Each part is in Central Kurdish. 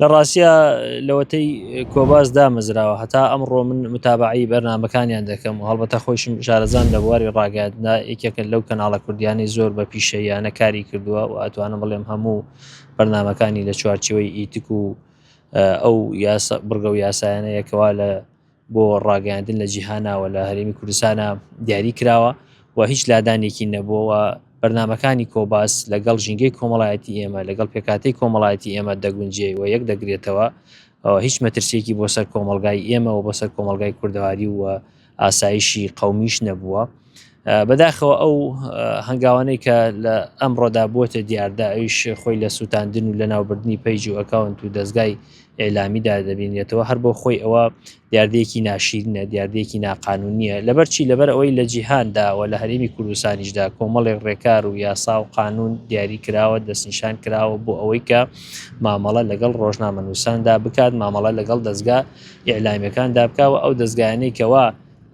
لە ڕاستیا لەوەتەی کۆباس دامەزراوە هەتا ئەمڕۆ من متابعی بەرنمەکانیان دەکەم و هەڵبەتە خۆشم شارەزان لە بواری ڕاگەاتنا یەکێکە لەو کەناڵە کوردیانی زۆر بە پیشەیانە کاری کردووە و ئەتوانم بڵێم هەموو بەرنمەکانی لە چوارچەوەی ئیتک و ئەو بڕگە و یاسایانەیەکەوا لە بۆ ڕاگەیاندن لە جیهانەوە لە هەرێمی کوردستانە دیاری کراوە و هیچ لادانێکی نەبووەوە بەرنمەکانی کۆباس لەگەڵ ژینگەی کۆمەڵایەتی ئێمە لەگەڵ پێکاتی کۆمەڵایەتی ئێمە دەگونجێ و یەک دەگرێتەوە هیچ مەترسیەکی بۆ سەر کۆمەلگای ئێمەەوە بۆ سەر کۆمەلگای کوردەواری و ئاسایشی قومیش نەبووە. بەداخەوە ئەو هەنگاوانەی کە لە ئەمڕۆدا بووەتە دیاردا ئەویش خۆی لە سووتاندن و لە ناوبردننی پەیج و ئەکاونت و دەستگای ئێلامیدا دەبینێتەوە هەر بۆ خۆی ئەوە دیاردەیەکی ناشیرنە دیاردەیەکی ناقانونیە لەبەرچی لەبەر ئەوەی لە جیهانداوە لە هەرێمی کوردستانیشدا کۆمەڵێک ڕێکار و یاسا و قانون دیاری کراوە دەستنیشان کراوە بۆ ئەوەی کە مامەڵە لەگەڵ ڕۆژنامە نووساندا بکات مامەڵە لەگەڵ دەستگا ئیعلامیەکاندا بکەوە ئەو دەستگایانەی کەەوە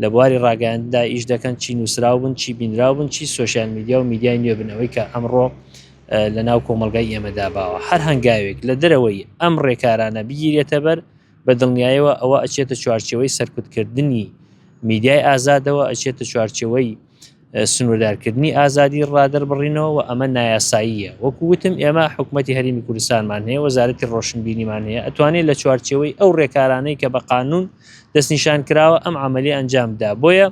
لە بواری ڕاگەیاندندا ئیش دەکەن، چی نووسراو بن، چی بینراو بن، چی سۆشیال میدیا و میدیای نوێ بن، ئەوەی کە ئەمڕۆ لەناو کۆمەڵگای ئێمەدا باوە. هەر هەنگاوێک لە دەرەوەی ئەم ڕێکارانە بگیرێتەبەر، بە دڵنیایەوە ئەوە ئەچێتە چوارچێوەی سەرکوتکردنی میدیای ئازادەوە، ئەچێتە چوارچێوەی سنووردارکردنی ئازادی ڕادەربڕینەوە و ئەمە نایاساییە وەکو وتم ئێمە حکوومەتتی هەرمی کوردستانمان هەیە وەزارەتی ڕۆشنبیریمان هەیە ئەتوانێت لە چوارچەوەی ئەو ڕێکارانەی کە بە قانون دەستنیشان کراوە ئەم عملی ئەنجامدا بۆیە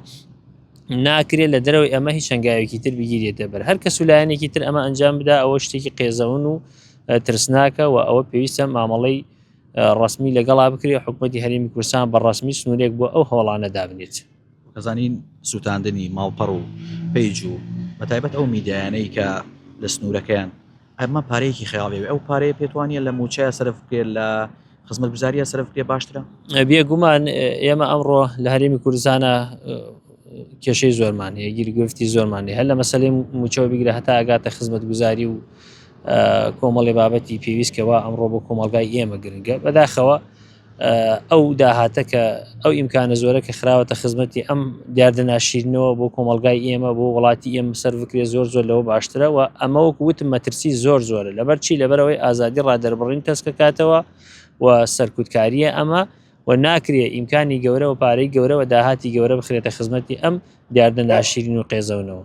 ناکرێت لە دەرەوەی ئەمە هیچ هەنگاوێکی تر بگیرێتە بەر هەر کەس و لایەنێکی تر ئەمە ئەنجام بدا ئەوە شتێکی قێزەون و ترسناکە و ئەوە پێویستە مامەڵەی ڕسمی لەگەڵا بکرێت حکوومەتتی هەرمی کوردستان بە ڕسمی سنوورێک بۆ ئەو هەوڵانە دابنێت. نازنین سوتاندنی ماڵپەڕ و پەیج و بەتایبەت ئەو میدیایانەی کە لە سنوورەکەیان ئەمە پارەیەکی خەیاڵی ئەو پارەیە پێتوانە لە موچەیە سەرف بکرێت لە خزمەت گوزاریە سەرف بکرێت باشترە بێگومان ئێمە ئەمڕۆ لە هەرێمی کوردستانە کێشەی زۆرمان هەیە گیرگرفتی زۆرمان هەیە لە مەسلەی موچەوە بگرە هەتا ئەگاتە خزمەت گوزاری و کۆمەڵی بابەتی پێویستکەوە ئەمڕۆ بۆ کۆمەلگای ئێمە گرنگە بەداخەوە ئەو داهاتە کە ئەو ئیمکانە زۆرە کە خراوەتە خزمەتی ئەم دیاردە ناشیرنەوە بۆ کۆمەلگای ئێمە بۆ وڵاتی ئێم سەر بکرێ زۆر زۆر لەوە باشترەوە ئەمە وەک وتم مەترسی زۆر زۆرە لەبەر چی لەبەرەوەی ئازادی ڕادەربڕین تەسکەکاتەوە و سەرکوتکاریە ئەمە و ناکرێ ئیمکانی گەورەوە پارەی گەورەوە داهاتی گەورە بخرێتە خزمەتی ئەم دیاردە ناشیرین و قێزەونەوە.